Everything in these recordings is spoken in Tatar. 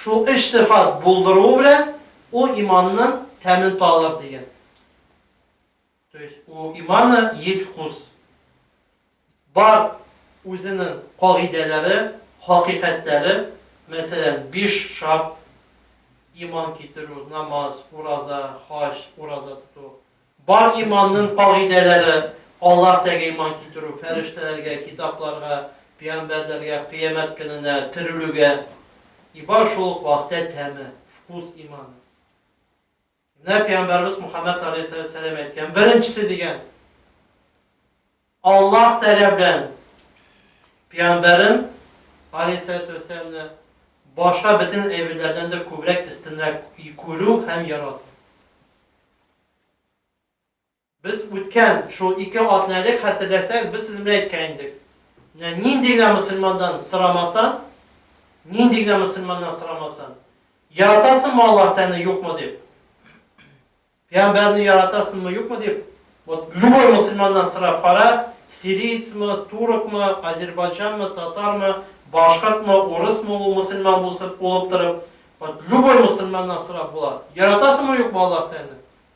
Шул өч сыйфат булдыруы белән ул иманның тәмен татар дигән. То есть у имана есть вкус. Бар үзенең кагыйдәләре, хакыйкатьләре, мәсәлән, биш шарт, иман китерү, намаз, ураза, хаҗ, ураза тоту. Бар иманның кагыйдәләре, Аллаһ тәгә иман китерү, фәрештәләргә, китапларга, пиамбәрләргә, кыямәт көненә, терелүгә. И бар шул ук вакытә тәме, вкус иманы. Менә пәйгамбәрбез Мухаммәд галәйһиссәләм әйткән, беренчесе дигән, Аллаһ Тәгалә белән пәйгамбәрен галәйһиссәләмне башка бөтен әйберләрдән дә күбрәк истинрәк күрү һәм ярату. Без үткән шул ике атна элек, хәтерләсәгез, без сезнең белән әйткән идек, менә нинди генә мөселмандан сорамасын, нинди генә мөселманнан сорамасын, яратасыңмы Аллаһ Тәгаләне, юкмы дип, пәйгамбәрне яратасыңмы, юкмы дип, вот любой мөселманнан сорап кара, сирийцмы, туркмы, азербайджанмы, татармы, башкортмы, урысмы ул мөселман булсын, улып торып, вот любой мөселманнан сорап була, яратасыңмы, юкмы Аллаһ Тәгаләне?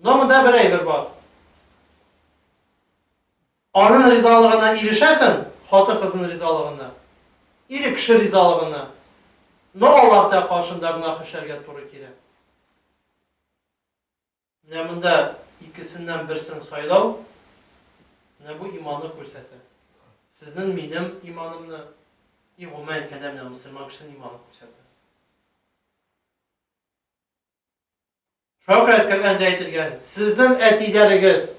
Но монда бер әйбер бар. Анын ризалыгына ирешәсең, хатын-кызын ризалыгына, ир кеше ризалыгына, но Аллаһ Тә каршында гөнаһ эшләргә туры килә. Менә монда икесеннән берсен сайлау, менә бу иманны күрсәтә. Сезнен минем иманымны, и гомумән әйткәндә менә мөселман кешесен иманын күрсәтә. Шөкрәт кергәндә әйтелгән, сезнең әтиләрегез,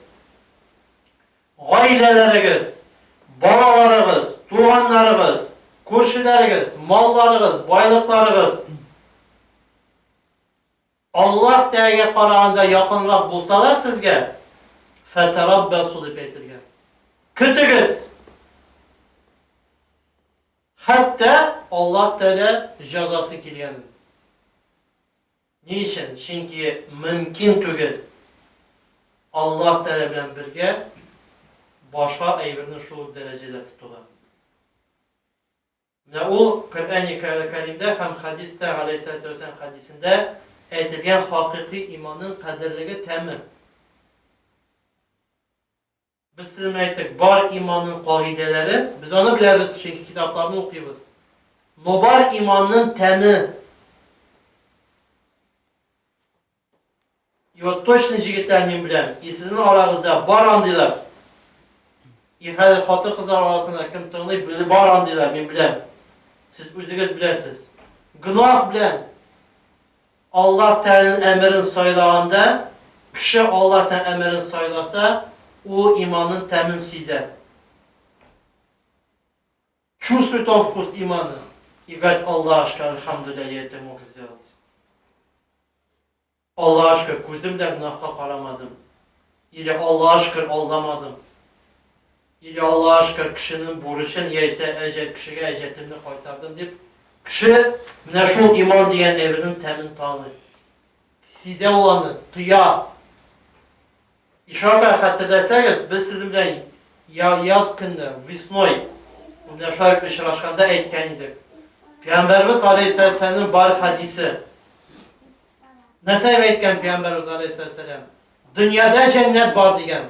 гаиләләрегез, балаларыгыз, туганнарыгыз, күршеләрегез, малларыгыз, байлыкларыгыз Аллаһ Тәгаләгә караганда якынрак булсалар сезгә, фәтәраббәсу дип әйтелгән. Көтегез! Хәтта Аллаһ Тәгалә җәзасы килгәнен. Ни өчен? Чөнки мөмкин түгел Аллаһ Тәгалә белән бергә башка әйберне шул ук дәрәҗәдә тотуда. Менә ул Коръәни Кәримдә һәм хәдистә, галәйһиссәлатү вәссәлам хәдисендә әйтелгән хакыйкый иманның кадерлеге тәме. Без сезнең белән әйттек, бар иманның кагыйдәләре, без аны беләбез, чөнки китапларны укыйбыз. Но бар иманның тәме. И вот точно җегетләр мин беләм, и сезнең арагызда бар андыйлар. И хәзер хатын-кызлар арасында кем тыңлый, беле бар андыйлар, мин беләм. Сез үзегез беләсез. Гөнаһ белән Аллаһ Тәгаләнең әмерен сайлаганда, кеше Аллаһ Тәгалә әмерен сайласа, ул иманның тәмен сизә. Чувствует он вкус имана и говорит, Аллашка, альхамдулилля, я это мог сделать. Аллаһ шөкер, күзем белән гөнаһка карамадым. Или Аллаһ шөкер, алдамадым. Или Алла ашкыр кешенең бурычын, яисә әҗәт кешегә әҗәтемне кайтардым дип, кеше менә шул иман дигән әйбернең тәмен таный. Сизә ул аны, тоя. Ишарга хәтерләсәгез, без сезнең белән яз көнне, весной, менә шулай очрашканда әйткән идек. Пәйгамбәрбез алейһиссәламнең бар хәдисе. Нәрсә әйткән Пәйгамбәрбез алейһиссәлам? Дөньяда җәннәт бар дигән.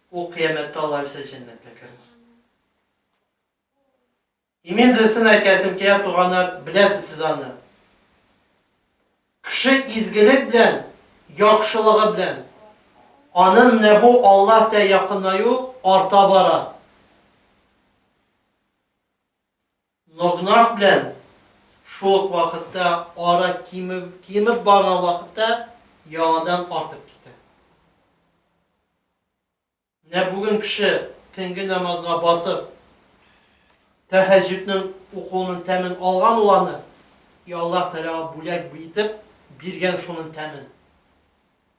Ул кыямәттә алар исә җәннәткә керер. Имин Дерсен әкиясен кия туганы беләсез сез аны. Кеше изгелек белән, яхшылыгы белән, анын нәбу Аллаһ тә якынаю арта бара. Ногнах белән шул ук вакытта ара кимеп кимеп барган вакытта яңадан артып китә. Менә бүген кеше төнге намазга басып, тәһәҗҗүднең укуының тәмен алган ул аны, и Аллаһ Тәгаләга бүләк итеп биргән шуның тәмен.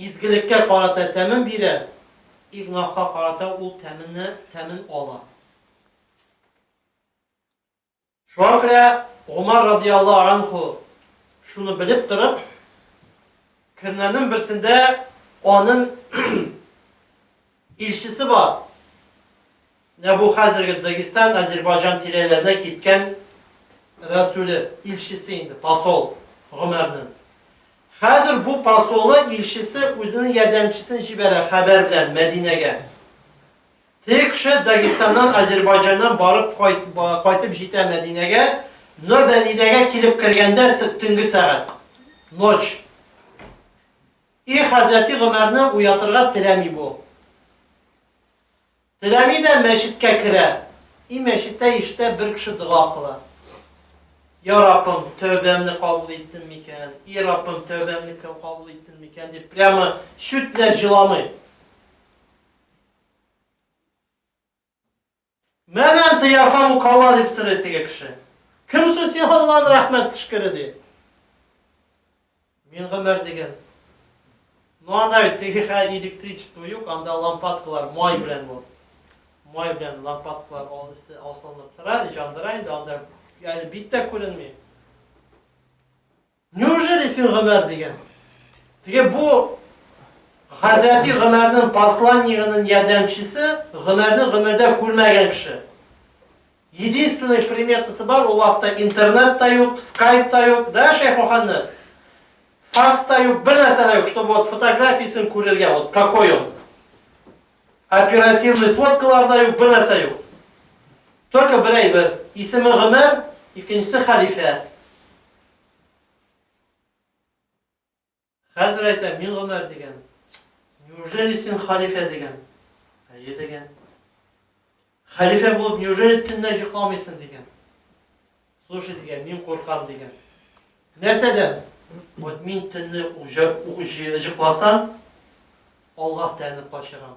Изгелеккә карата тәмен бирә, и гөнаһка карата ул тәмене, тәмен ала. Шуңа күрә Гомар радиаллаһу анһу шуны белеп торып, көннәрнең берсендә анын Илчесе бар. Менә бу хәзерге Дагестан, Азербайҗан тирәләренә киткән рәсүле, илчесе инде, посол Гомәрнең. Хәзер бу посолы, илчесе үзенең ярдәмчесен җибәрә хәбәр белән Мәдинәгә. Теге кеше Дагестаннан, Азербайҗаннан барып кайт, кайтып җитә Мәдинәгә, но Мәдинәгә килеп кергәндә төнге сәгать, ночь. И хәзрәти Гомәрне уятырга теләми бу. Теләми дә мәчеткә керә. И мәчеттә иштә бер кеше дога кыла. Я Раббым, тәүбәмне кабул иттен микән? И Раббым, тәүбәмне кабул иттен микән? дип прямо чүт белән җыламый. Мән әнтә ярхамук Алла, дип сорый теге кеше. Кем син син Алланы рәхмәт төшкере, ди. Мин Гомәр диген. Ну анда бит теге хә электричество юк, анда лампадкалар май белән бу. Май белән лампадкалар ал эсе асылынып тора, җандыра инде анда әле бит тә күренми. Неужели син Гомәр дигән? Теге бу Хәзрәти Гомәрнең посланнигының ярдәмчесе, Гомәрне гомердә күрмәгән кеше. Единственный приметасы бар, ул вакытта интернет та юк, скайп та юк, да, Шәйх Мөхәммәд? Факс та юк, бер нәрсә дә юк, чтобы вот фотографиясен күрергә, вот какой он. Оперативный сводкалар да юк, бер нәрсә юк. Только бер әйбер, исеме Гомәр, икенчесе хәлифә. Хәзер әйтәм, мин Гомәр дигән. Неужели син халифә дигән? Әйе дигән. Халифә булып, неужели төннә йокламыйсың дигән. Слушай дигән, мин куркам дигән. Нәрсәдән? Вот мин төнне йокласам, Аллаһ тәнне качырам.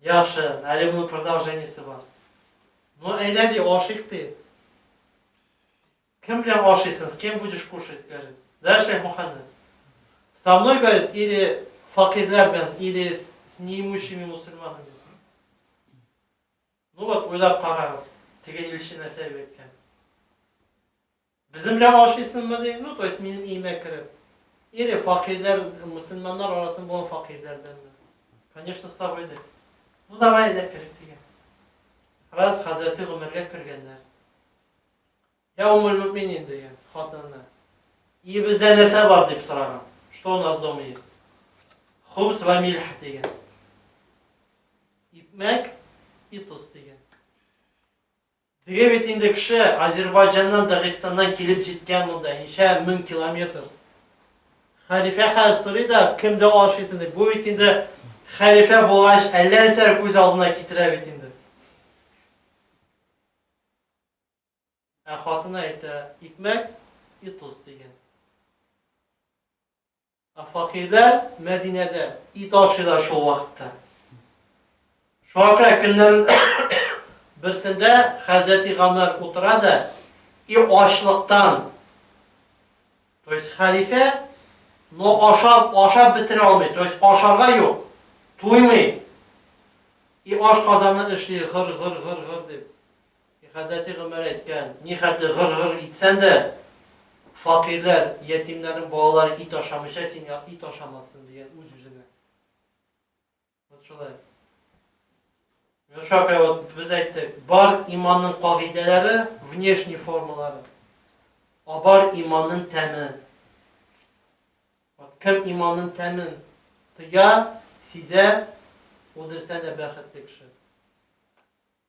Яхшы, әле моның продолжениесе бар. Ну, әйдә ди, ашыйк ди. Кем белән ашыйсың? С кем будешь кушать? говорит. Да, шейх Мухаммед? Со мной, говорит, или факирләр белән, или с неимущими мусульманами. Ну вот, уйлап карагыз, теге илче нәрсә әйткән. Безнең белән ашыйсыңмы, ди. Ну, то есть, минем өемә кереп. Или факирләр, мөселманнар арасында булган факирләрдәнме? Конечно, с тобой, ди. Ну, давай, әйдә, керик, дигән. Раз хәзрәте Гомәргә кергәннәр. Я умуль мөминин, дигән хатынына. Өебездә нәрсә бар, дип сораган. Что у нас дома есть? Хубс ва мильх, дигән. Икмәк и тоз, дигән. Теге бит инде кеше, Азербайҗаннан, Дагыстаннан килеп җиткән монда, ничә мең километр. Хәлифә хәзер сорый да, кемдә ашыйсың дип. Бу бит инде хәлифә булгач, әллә нәрсәләр күз алдына китерә бит инде. Ә хатыны әйтә, икмәк и тоз, дигән. Ә факирләр Мәдинәдә ит ашыйлар шул вакытта. Шуңа күрә көннәрнең берсендә хәзрәти Гамәр утыра да и ачлыктан, то есть хәлифә, но ашап, ашап бетерә алмый, то есть ашарга юк, туймый, и ашказаны эшли гыр-гыр-гыр-гыр дип. Хәзрәти Гомәр әйткән, Нихәтле гыр-гыр итсән дә, факирләр, ятимнәрнең балалары ит ашамыйча, син ит ашамассың, дигән үз-үзенә. Вот шулай. Менә шуңа вот без әйттек, бар иманның кагыйдәләре, внешний формалары. А бар иманның тәме. Вот кем иманның тәмен тоя, сизә, ул дөрестән дә бәхетле кеше.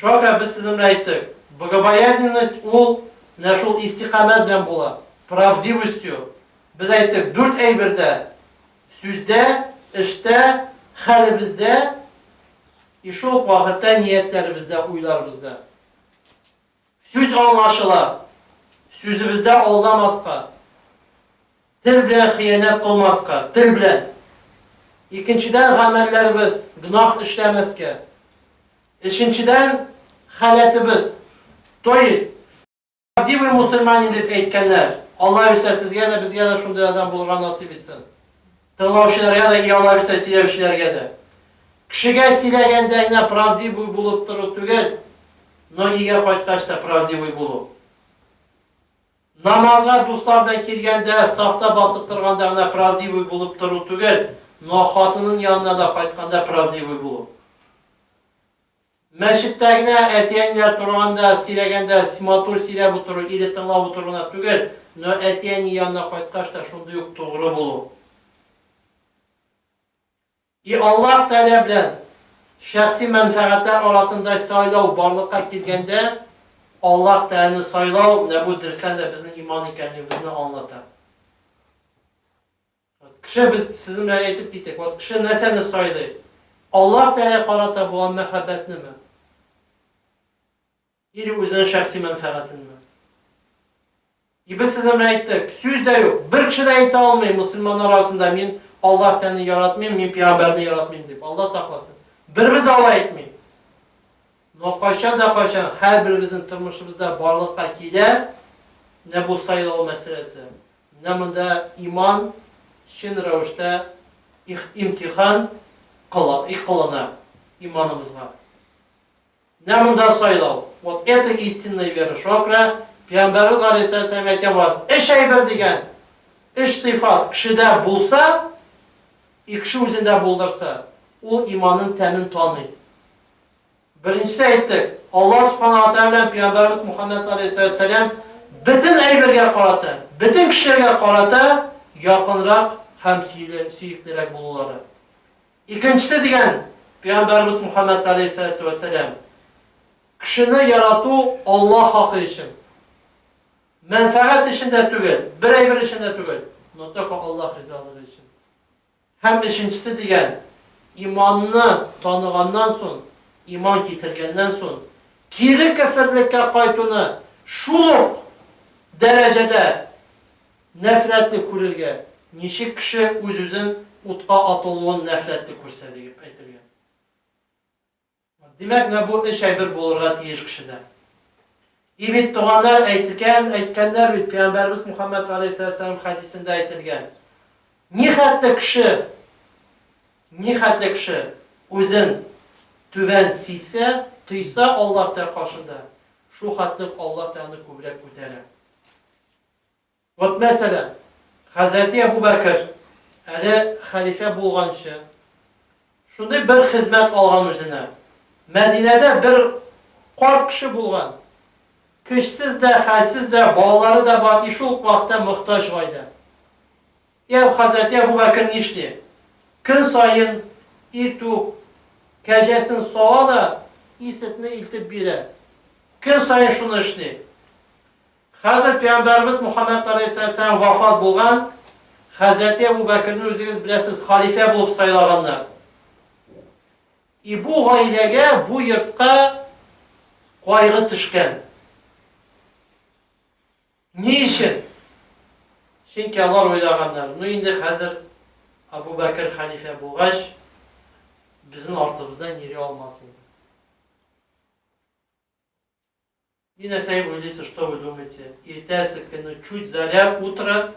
Шакир, без сезнең белән әйттек, богобоязненность ул менә шул истикамәт белән була, правдивостью. Без әйттек, дүрт әйбердә, сүздә, эштә, хәлебездә и шул ук вакытта ниятләребездә, уйларыбызда. Сүз аңлашыла, сүзебездә алдамаска. Тел белән хыянәт кылмаска, тел белән. Икенчедән, гамәлләребез, гөнаһ эшләмәскә. Өченчедән, халәтебез, то есть. Правдивый мусульманин дип әйткәннәр. Аллабирса, сезгә дә, безгә дә шундый адәм булырга насыйп итсен. Тыңлаучыларга да и аллабирса сөйләүчеләргә дә. Кешегә сөйләгәндә генә правдивый булып тору түгел, но өйгә кайткач та правдивый булу. Намазга дуслар белән килгәндә, сафта басып торганда гына правдивый булып тору түгел, но хатының янына да кайтканда правдивый булу. Мәчеттә генә әти-әниләр торганда, сөйләгәндә матур сөйләп утыру или тыңлап утыру гына түгел, но әти-әни янына кайткач та шундый ук тугры булу. И Аллаһ Тәгалә белән шәхси мәнфәгатьләр арасында сайлау барлыкка килгәндә, Аллаһ Тәгаләне сайлау, менә бу дөрестән дә безнең иман икәнлегебезне аңлата. Кеше, без сезнең белән әйтеп китик, вот кеше нәрсәне сайлый? Аллаһ Тәгалә карата булган мәхәббәтнеме? Или үзенең шәхси мәнфәгатенме? И без сезнең белән әйттек, сүз дә юк, бер кеше дә әйтә алмый мөселманнар арасында мин Аллаһ тәнен яратмыйм, мин пигамбәрне яратмыйм дип, Аллаһ сакласын. Беребез дә алай әйтми. Но кайчан да кайчан һәрберебезнең тормышыбызда барлыкка килә менә бу сайлау мәсьәләсе. Менә монда иман чын рәвештә их, имтихан кыла, и кылына иманыбызга. Менә монда сайлау, вот это истинная вера, шуңа күрә Пәйгамбәребез галәйһиссәләм әйткән булган, өч әйбер дигән, өч сыйфат кешедә булса, и кеше үзендә булдырса, ул иманын тәмен таный. Беренчесе әйттек, Алла Субхана ва Тәгалә белән Пәйгамбәребез Мухаммәд галәйһиссәләм бөтен әйбергә карата, бөтен кешеләргә карата якынрак һәм сөеклерәк булулары. Икенчесе дигән Пәйгамбәребез Мөхәммәд галәйһиссәләтү вәссәлам, Кешене ярату Аллаһ хакы өчен. Мәнфәгать өчен дә түгел, берәйбер өчен дә түгел, но только Аллаһ ризалыгы өчен. Һәм өченчесе дигән Иманны таныганнан сон, иман китергәннән сон, кире кеферлеккә кайтуны шул ук дәрәҗәдә Нәфрәтле күрергә, ничек кеше үз-үзен утка атылуын нәфрәтле күрсә, диеп әйтелгән. Димәк, менә бу өч әйбер булырга тиеш кешедә. И бит, туганнар, әйтгән, әйткәннәр бит, пәйгамбәребез Мухаммәд галәйһиссәләм хәдисендә әйтелгән, нихәтле кеше, нихәтле кеше үзен түбән сисә, тойса Аллаһ Тә каршында, шул хәтле үк Аллаһ Тә аны күбрәк күтәрә. Вот мәсәлән, хәзрәти Әбүбәкер, әле хәлифә булганчы, шундый бер хезмәт алган үзенә. Мәдинәдә бер карт кеше булган, көчсез дә, хәлсез дә, балалары да бар и шул ук вакытта мохтаҗ гаилә. И Әб хәзрәти Әбүбәкер нишли? Көн саен итү кәҗәсен сала да, и сетне илтеп бирә. Көн саен шуны эшли. Хәзер пәйгамбәребез Мухаммәд галәйһиссәләм вафат булган, хәзрәти Әбу Бәкерне үзегез беләсез, халифә булып сайлаганнар. И бу гаиләгә, бу йортка кайгы төшкән. Ни өчен? Чөнки алар уйлаганнар, ну инде хәзер Әбу Бәкер халифә булгач, безнең артыбыздан йөри алмас инде. И на сей улице что вы думаете, иртәсе көнне чуть заря утро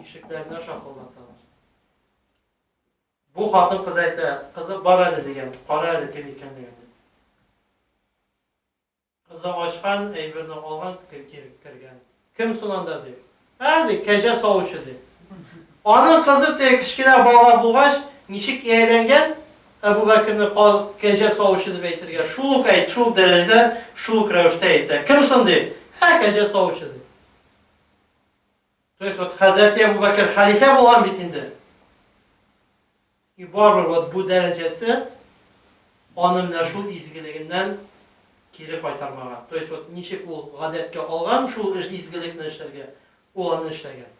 ишекләренә шакылдаталар. Бу хатын-кыз әйтә, кызып бар әле дигән, кара әле кем икәнлеген дип. Кызы ачкан, әйберне алган, кергән. Кем соң анда, ди. Ә, ди, кәҗә савучы, ди. Аның кызы теге кечкенә бала булгач, ничек ияләнгән, Әбүбәкерне ка, кәҗә савучы дип әйтергә, шул ук әйт, шул ук дәрәҗәдә, шул ук рәвештә әйтә. Кем соң, ди. Ә, кәҗә савучы, ди. То есть, вот хәзрәти Әбүбәкер хәлифә булган бит инде. И бары вот бу дәрәҗәсе аны менә шул изгелегеннән кире кайтармаган. То есть вот ничек ул гадәткә алган шул эш изгелекне эшләргә, ул аны эшләгән.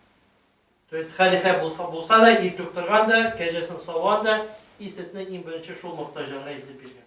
То есть хәлифә булса, булса да, ир туктырган да, кәҗәсен савган да, и сөтне иң беренче шул мохтаҗларга илтеп биргән.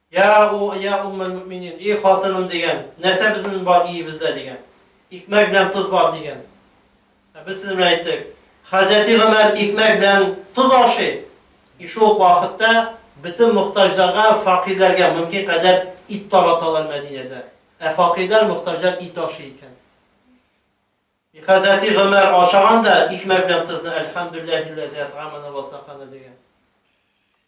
Йа у, йа Уммәлмөэминин, и хатыным, дигән, нәрсә безнен бар иебездә, дигән, икмәк белән тоз бар, дигән. Ә без сезнен белән әйттек, Хәзрәти Гомәр икмәк белән тоз ашый, и шул ук вакытта бөтен мохтаҗларга, факирләргә мөмкин кадәр ит тараталар Мәдинәдә. Ә факирләр, мохтаҗлар ит ашый икән. И Хәзрәти Гомәр ашаган да икмәк белән тозны, Әлхәмдүлләһи лләзи ат'амана вә сакана, дигән.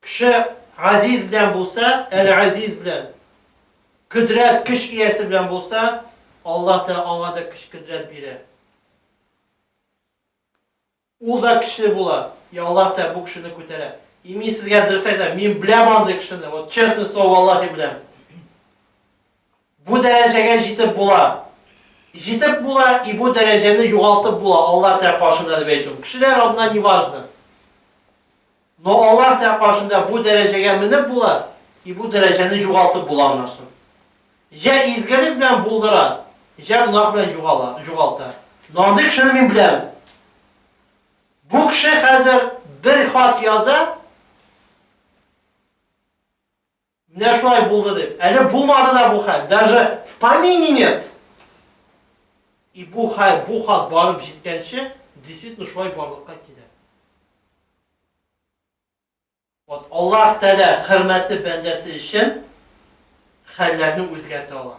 Кеше Газиз белән булса, Әл-Азиз белән, Кодрәт, көч иясе белән булса, Аллаһ Тәгалә аңа да көч-кодрәт бирә. Ул да көчле була, и Аллаһ Тәгалә бу кешене күтәрә. И мин сезгә дөрес әйтәм, мин беләм андый кешене, вот честное слово валлаһи беләм. Бу дәрәҗәгә җитеп була Җитеп була и бу дәрәҗәне югалтып була Аллаһ тә каршында дип әйтү Кешеләр алдында не важно Но Аллаһ тә каршында бу дәрәҗәгә менеп була и бу дәрәҗәне югалтып була аннан соң Җә изгелек белән булдыра, җә гөнаһ белән югала, югалта Но андый кешене мин беләм Бу кеше хәзер бер хат яза, Менә шулай булды дип. Әле булмады да бу хәл, даже в помине нет! И бу хәл, бу хат барып җиткәнче, действительно шулай барлыкка килә. Вот Аллаһ Тәгалә хөрмәтле бәндәсе өчен хәлләрне үзгәртә ала.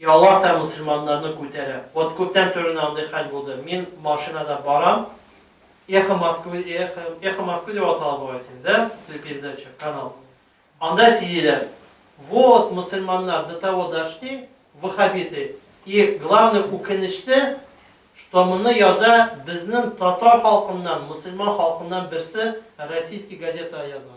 И Аллаһ та мөселманнарны күтәрә. Вот күптән түренә андый хәл булды. Мин машинада барам. Эхо Москвы, Эхо, Эхо Москвы дип атала бу әйт инде, да? Телепередача, канал. Анда сөйлиләр. Вот мөселманнар до того дошли, вахабиты. И главный үкенечле, что моны яза безнең татар халкыннан, мөселман халкыннан берсе российский газетага язган.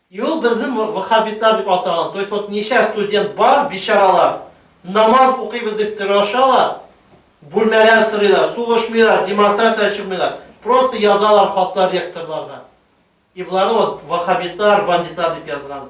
Юк, безнең вахабитлар дип атаган, то есть вот ничә студент бар, бичаралар, намаз укыйбыз дип тырашалар, бүлмәләр сорыйлар, сулышмыйлар, демонстрациягә чыкмыйлар, просто язалар хатлар ректорларга. И боларны вот вахабитлар, бандитлар дип язган.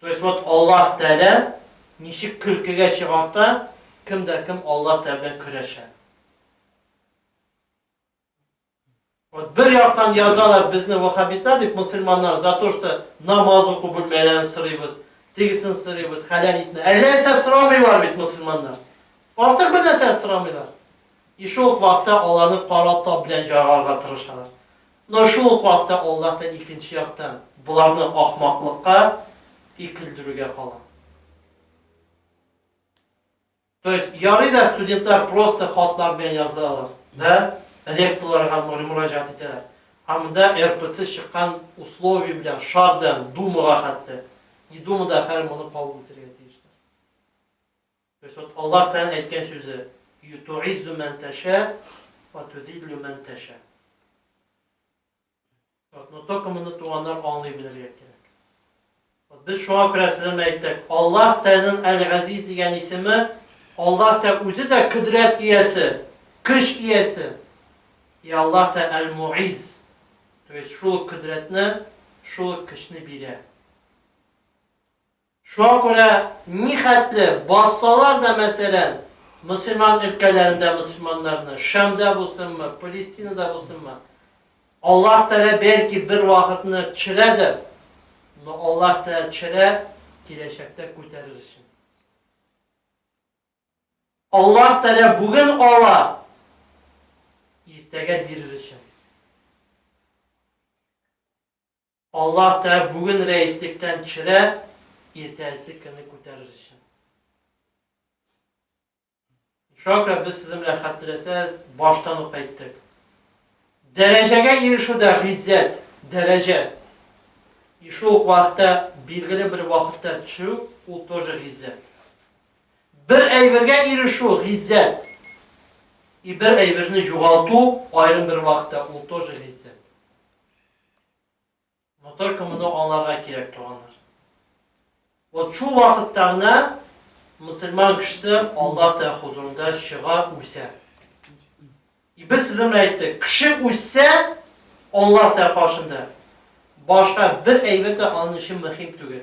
То есть вот Аллаһ Тәгалә ничек көлкегә чыгарта, кем дә кем Аллаһ Тәгалә белән көрәшә. Вот бер яктан язалар безне вахабита дип мусульманнар за то, что намаз уку бүлмәләрен сырыйбыз, тегесен сырыйбыз, хәләл итне. Әллә нәрсә сорамыйлар бит мусульманнар. Артык бер нәрсә сорамыйлар. И шул вакытта аларны кара тап белән җаргарга тырышалар. Но шул ук вакытта Аллаһ та икенче яктан боларны ахмаклыкка икелдерүгә кала. То есть ярый да студентлар просто хатлар белән язалар, да, ректорларга мөрмүраҗәгать итәләр. А монда РПЦ чыккан условие белән, шарт белән Думага хәтта. И Дума да хәер моны кабул итәргә тиешләр. Господь Аллаһ Тәгаләнең әйткән сүзе, Ю ту'иззу мән тәшә уә ту'зиллю мән тәшә. Вот, но только моны туганнар аңлый белергә кирәк. Вот без шуңа күрә сезгә мә әйттек, Аллаһ Тәгаләнең Әл-Газиз дигән исеме, Аллаһ Тәгалә үзе дә кодрәт иясе, көч иясе. И Аллаһ Тәгалә Әл-Му'изз, то есть шул ук кодрәтне, шул ук көчне бирә. Шуңа күрә нихәтле бассалар да, мәсәлән, мөселман өлкәләрендә мөселманнарны, Шәмдә булсынмы, Палестинада булсынмы, Аллаһ Тәгалә бәлки бер вакытны төшерәдер, но Аллаһ Тәгалә төшерә киләчәктә күтәрер өчен. Аллаһ Тәгалә бүген ала, иртәгә бирер өчен. Аллаһ та бүген рәислектән төшерә, иртәсе көнне күтәрер өчен. Шакра без сезнең белән хәтерләсәз, баштан ук әйттек. Дәрәҗәгә ирешү дә гыйззәт, дәрәҗә. И шул ук вакытта билгеле бер вакытта төшү, ул тоже гыйззәт. Бер әйбергә ирешү, гыйззәт. И бер әйберне югалту, аерым бер вакытта, ул тоже гыйззәт. Но только моны аңларга кирәк, туганнар. Вот шул вакытта гына мусульман кешесе Аллаһ Тәгалә хузурында чыга, үсә. И без сезнең белән әйттек, кеше үссә Аллаһ Тәгалә каршында башка бер әйбәт тә аның өчен мөһим түгел.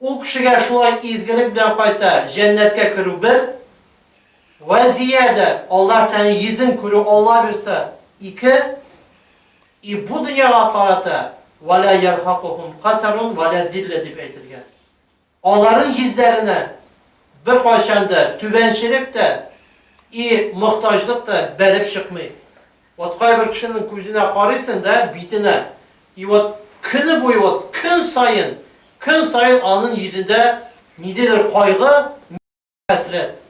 Ул кешегә шулай изгелек белән кайта җәннәткә керү бер, вә зиядә, Аллаһ Тәгаләнең йөзен күрү, Алла бирса, ике, и бу дөньяга карата, Вә лә ярхакухум катарун вә лә зилля дип әйтелгән. Аларның йөзләренә беркайчан да түбәнчелек тә и мохтаҗлык та бәреп чыкмый. Вот кайбер кешенең күзенә карыйсың да, битенә, и вот көне буе вот көн саен, көн саен аның йөзендә ниделер кайгы, хәсрәт.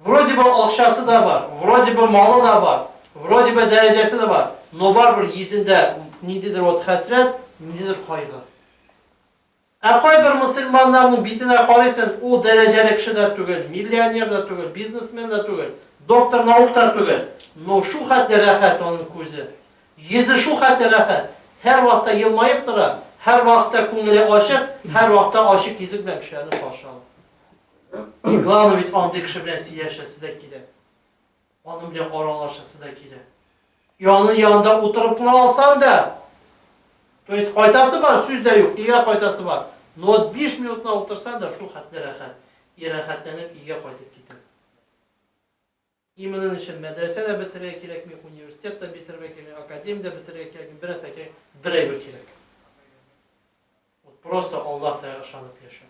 Вроде бы акчасы да бар, вроде бы малы да бар, вроде бы дәрәҗәсе дә бар, но барыбер йөзендә ниделер вот хәсрәт, ниделер кайгы. Ә кайбер мөселманнарның битенә карыйсың, ул дәрәҗәле кеше дә түгел, миллионер да түгел, бизнесмен да түгел, доктор наук та түгел, но шул хәтле рәхәт аның күзе. Йөзе шул хәтле рәхәт, һәрвакытта елмаеп тора, һәрвакытта күңеле ачык, һәрвакытта ачык йөзе белән кешеләрне каршы ала. И главный бит андый кеше белән сөйләшәсе дә килә. Аның белән аралашасы да килә. Янын янында утырып кына алсан да, то есть кайтасы бар, сүз дә юк, өйгә кайтасы бар. Но вот биш минутына утырсан да, шул хәтле рәхәт. И рәхәтләнеп өйгә кайтып китәсең. И моның өчен мәдрәсә дә бетерергә кирәкми, университет та бетерергә кирәкми, академия дә бетерергә кирәкми, бер нәрсә кирәк, бер әйбер кирәк. Вот просто Аллаһ Тәгаләгә ышанып яшәү.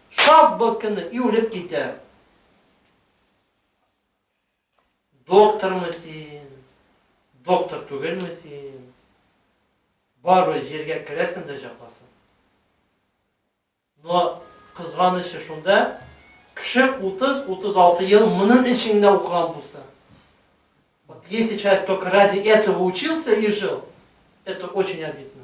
Шат бул көнне иулеп китә. Доктормы син, доктор түгелме син? Барыбер җиргә керәсең дә җакласың. Но кызганычы шунда, кеше 30-36 ел моның өчен генә укыган булса. Вот если человек только ради этого учился и жил, это очень обидно.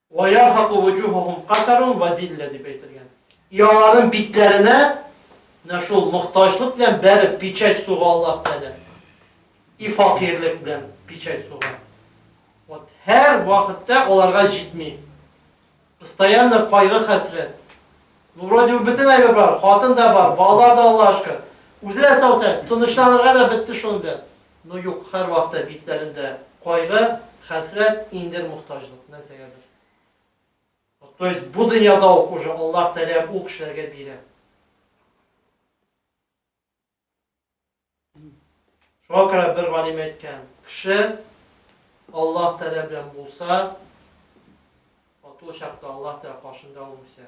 Вә ярһаку вөҗүһәһүм катарун вә зиллә дип әйтелгән. Иаларым битләренә нә шул мохтаҗлык белән бәреп пичәт суга Аллаһ Тәгалә. И факирлек белән пичәт суга. Вот һәр вакытта аларга җитми. Постоянно кайгы хәсрәт. Ну вроде бы бөтен әйбер бар, хатын да бар, балалар да Аллаһышка. Үзе дә сау сәламәт, тынычланырга да бетте шуның белән. Ну юк, һәрвакыта битләрендә кайгы, хәсрәт, иңдер мохтаҗлык, нәрсәгәдер. То есть бу дөньяда ук уже Аллаһ Тәгалә ул кешеләргә бирә. Шуңа күрә бер галим әйткән, кеше Аллаһ Тәгалә белән булса, ул чакта Аллаһ Тәгалә каршында ул үсә.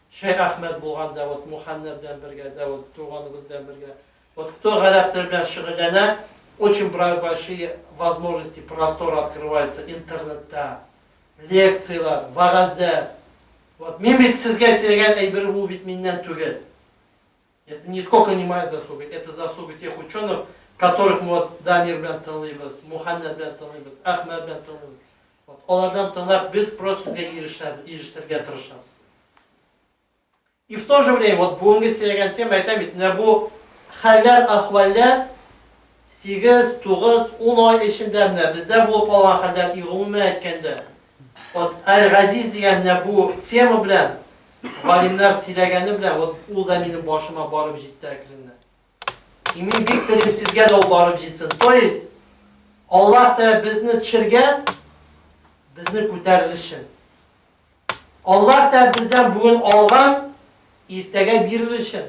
Шәйх Әхмәт булган да вот Муханна белән бергә дә вот туганыбыз белән бергә вот кто гарәп теле белән шөгыльләнә очень большие возможности простор открывается интернетта лекцияләр вәгазьләр вот мин бит сезгә сөйләгән әйбер бу бит миннән түгел. Это нисколько не моя заслуга, это заслуга тех ученых, которых мы вот Дамир белән тыңлыйбыз, Муханнәр белән тыңлыйбыз, Әхмәт белән тыңлыйбыз. Вот алардан тыңлап без просто сезгә ирешәбез, ирештергә тырышабыз. И в то же время, вот бүгенге сөйләгән тема, әйтәм бит, менә бу хәлләр, ахваллар 8, 9, 10 ай эчендә менә бездә булып алган хәлләр, и гомумән әйткәндә, Вот Аль-Газиз дигән менә бу тема белән галимнәр сөйләгәне белән вот ул да минем башыма барып җитте әкренләп. И мин бик телим сезгә дә ул барып җитсен. То есть Аллаһ та безне төшергән, безне күтәрер өчен. Аллаһ та бездән бүген алган, иртәгә бирер өчен.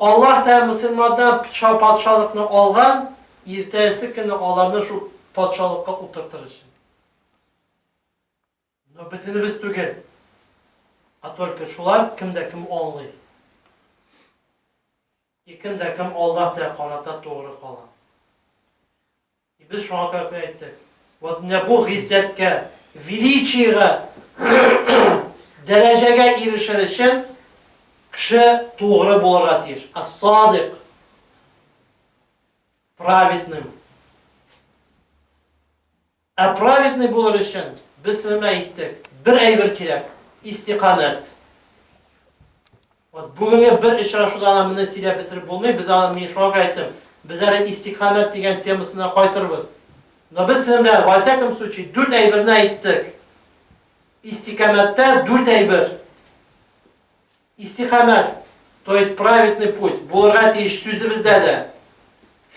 Аллаһ та мөселманнан пча патшалыкны алган, иртәсе көнне аларны шул патшалыкка утыртыр өчен. Но бөтенебез түгел, а только шулар, кем дә кем аңлый. И кем дә кем Аллаһ тә карата тугры кала. И без шуңа күрә күп әйттек. Вот менә бу гыйззәткә, величиегә, дәрәҗәгә ирешер өчен кеше тугры булырга тиеш. Ас-садик. Праведный. Ә праведный булыр өчен без сезгә әйттек, бер әйбер кирәк, истикамәт. Вот бүгенге бер очрашуда ана моны сөйләп бетереп булмый, без аны, мин шуңа күрә әйттем, без әле истикамәт дигән темасына кайтырбыз. Но без сезнең белән, во всяком случае, дүрт әйберне әйттек. Истикамәттә дүрт әйбер. Истикамәт, то есть праведный путь, булырга тиеш сүзебездә дә,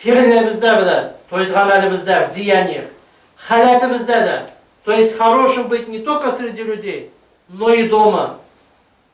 фигылебездә дә, то есть гамәлебездә, в деяниях, халәтебездә дә, то есть хорошим быть не только среди людей, но и дома.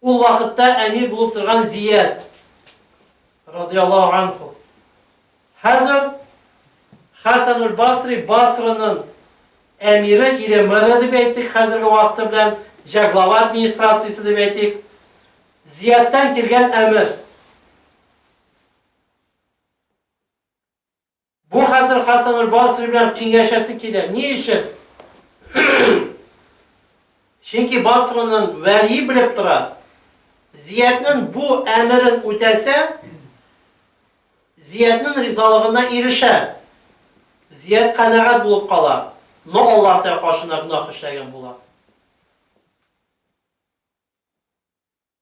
Ул вакытта әмир булып торган Зияд, радыяллаһу анһу, хәзер Хәсәнул-Басри, Басраның әмире, ире, мэры дип әйтик, хәзерге вакыты белән җә глава администрациясе дип әйтик, Зиядтан килгән әмер. Бу хәзер Хасангөл Басри белән киңәшәсе килә. Ни өчен? Чөнки Басраның вәлие белеп тора. Зиятның бу әмерен үтәсә, Зиятның ризалыгына ирешә. Зият канәгать булып кала, но Аллаһ Тәгалә каршына гөнаһ эшләгән була.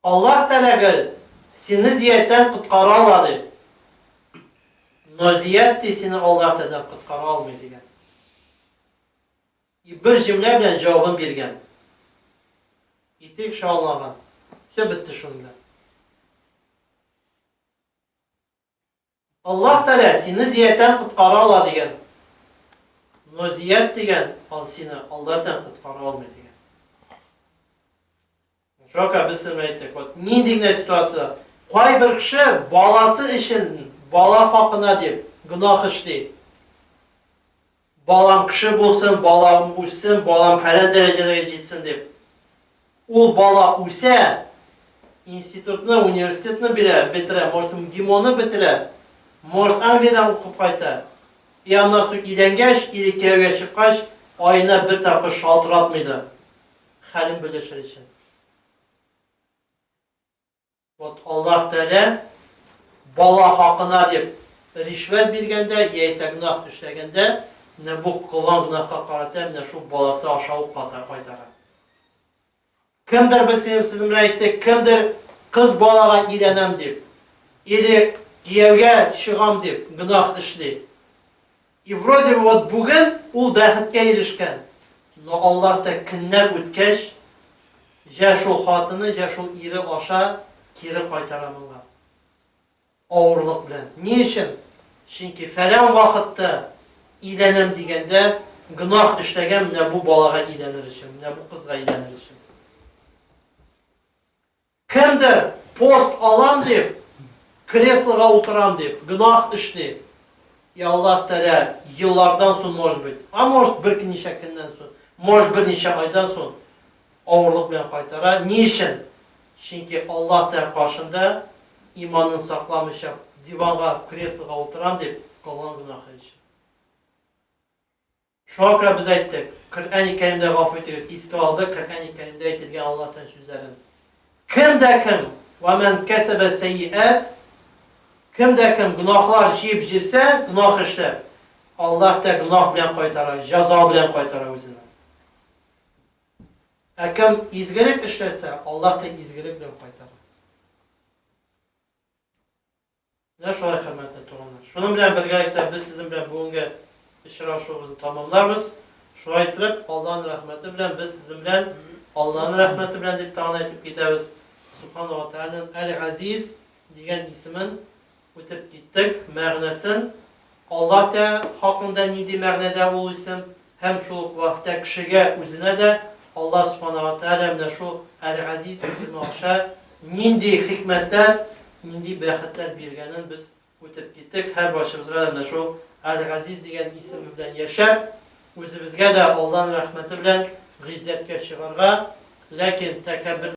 Аллаһ Тәгалә гел сине зияттән коткара ала, ди. Но зият, ди, сине Аллаһ Тәгаләдән коткара алмый, дигән. И бер җөмлә белән җавабын биргән. Итек шаулаган. Все бетте шуның белән. Аллаһ Тәгалә сине зиятән коткара ала дигән. Но зият дигән ал сине алдатән коткара алмый дигән. Чока без сем әйттек, вот нинди генә ситуация, кайбер кеше баласы өчен, бала хакына дип гөнаһ эшли. Балам кеше булсын, балам үссен, балам фәлән дәрәҗәләргә җитсен дип. Ул бала үсә, институтны, университетны бирә, бетерә, может, МГИМОны бетерә, может, Англиядән укып кайта. И аннан соң өйләнгәч, или кияүгә чыккач, аена бер тапкыр шалтыратмый да, хәлен белешер өчен. Вот Аллаһ Тәгалә бала хакына дип ришвәт биргәндә яисә гөнаһ эшләгәндә, менә бу кылган гөнаһка карата менә шул баласы аша ук ката кайтара. Кемдер без синең сез менә әйттек, кемдер кыз балага өйләнәм дип, или кияүгә чыгам дип гөнаһ эшли. И вроде бы вот бүген ул бәхеткә ирешкән, но Аллаһ та көннәр үткәч, җә шул хатыны, җә шул ире аша кире кайтара моңа. Авырлык белән. Ни өчен? Чөнки фәлән вакытта өйләнәм дигәндә, гөнаһ эшләгән менә бу балага өйләнер өчен, менә бу кызга өйләнер өчен. Кемдер, пост алам дип, креслога утырам дип, гөнаһ эшли. И Аллаһ Тәгалә, еллардан сон, может быть, а может, беркничә көннән сон, может, берничә айдан сон авырлык белән кайтара. Ни өчен? Чөнки Аллаһ Тәгалә каршында иманын сакламыйча, диванга, креслога утырам дип, кылган гөнаһы өчен. Шуңа күрә без әйттек, Коръәни Кәримдә гафу итегез, искә алдык Коръәни Кәримдә әйтелгән Аллаһ Тән сүзләрен, Кем дә кем, Вә мән кәсәбә сәйиәт, Кем дә кем гөнаһлар җыеп җирсә, гөнаһ эшләп, Аллаһ Тә гөнаһ белән кайтара, җәза белән кайтара үзенә. Ә кем изгелек эшләсә, Аллаһ Тә изгелек белән кайтара. Менә шулай, хөрмәтле туганнар. Шуның белән бергәлектә без сезнең белән бүгенге очрашуыбызны тәмамларбыз. Шулай иттереп, Аллаһның рәхмәте белән без сезнең белән Аллаһның рәхмәте белән дип тагын әйтеп китәбез. Субхана ва Тәгаләнең Әл-Газиз дигән исемен үтеп киттек, мәгънәсен Алла Тә хакында нинди мәгънәдә ул исем һәм шул ук вакытта кешегә үзенә дә Алла Субхана ва Тәгалә менә шул Әл-Газиз исеме аша нинди хикмәтләр, нинди бәхетләр биргәнен без үтеп киттек. Һәрбарчыбызга да менә шул Әл-Газиз дигән исеме белән яшәп, үзебезгә дә Алланың рәхмәте белән гыйззәткә чыгарга, ләкин тәкәббер.